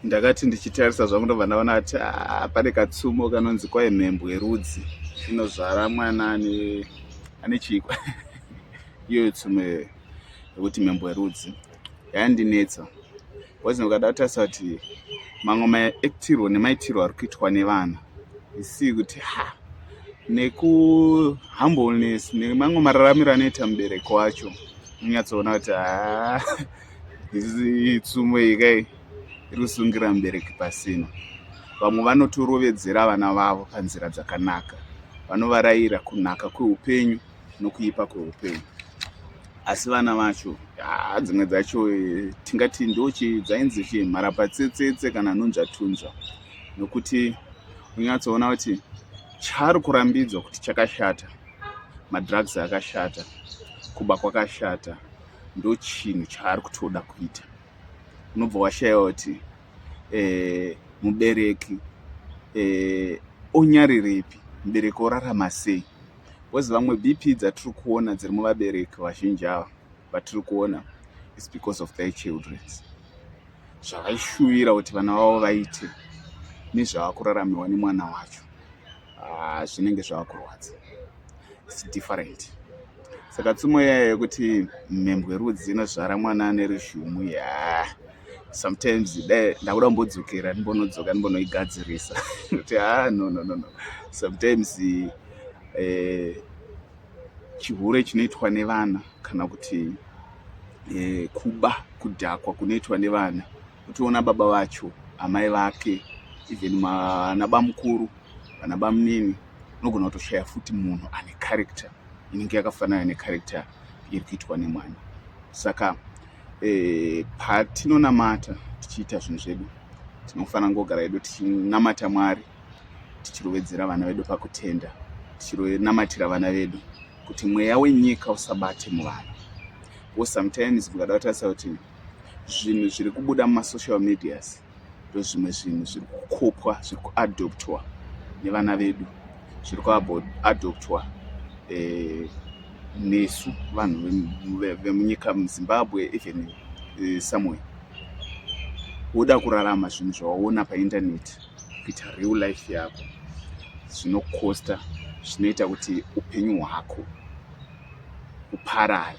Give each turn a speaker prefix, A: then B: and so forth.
A: ndakati ndichitarisa zvangu ndobva ndaona kuti ah, pane katsumo kanonzi kwai mhembwe rudzi inozvara mwana ane ane chikwa iyoyo tsumo iyoyo yekuti mhembwe rudzi yandinetsa bcause ndikada kutarisa kuti mamwe maektirwo nemaitirwo ari kuitwa nevana isii kuti ha nekuhumbleness nemamwe mararamiro anoita mubereko wacho unyatsoona kuti haa tsumo iyi kai iri kusungira mubereki pasina vamwe vanotorovedzera vana vavo panzira dzakanaka vanovarayira kunaka kweupenyu nokuipa kweupenyu asi vana vacho haa dzimwe dzacho eh, tingati ndochi dzainzi chi mharapatsetsetse kana nunzvatunzva nokuti unyatsoona kuti chaari kurambidzwa kuti chakashata madrugs akashata kuba kwakashata ndochinhu chaari kutoda kuita unobva washaiwa kuti eh, mubereki eh, onyarirepi mubereki orarama sei bcause vamwe bp dzatiri kuona dziri muvabereki vazhinji ava vatiri kuona is because of their children zvavaishuvira kuti vana vavo vaite nezvavakuraramiwa nemwana wacho ah, zvinenge zvava kurwadza its different saka tsumo yaya yekuti mhembwe rudzi inozvara mwana ane ruzhumu ya sometimes dai ndakuda kumbodzokera ndimbonodzoka ndimbonoigadzirisa kuti ha ah, no no no no sometimes eh, chihure chinoitwa nevana kana kuti eh, kuba kudhakwa kunoitwa nevana Uchiona baba vacho, amai vake, even vanabamukuru, vanabamunini, unogona kutoshaya futi munhu ane character inenge yakafanana necharacter iri kuitwa nemwana. Saka eh, patinonamata tichiita zvinhu zvedu tinofanira kugara hedu tichinamata Mwari, tichirovedzera vana vedu pakutenda, tichinamatira vana vedu kuti mweya wenyika usabate muvana. Wo sometimes mukada kutarisa kuti zvinhu zviri kubuda mumasocial medias ndozvimwe zvinhu zviri kukopwa zviri kuadoptwa nevana vedu zviri kuadoptwa eh, nesu vanhu vemunyika muzimbabwe even eh, somewhere woda kurarama zvinhu zvawaona paindaneti kuita real life yako zvinokosta zvinoita kuti upenyu hwako uparare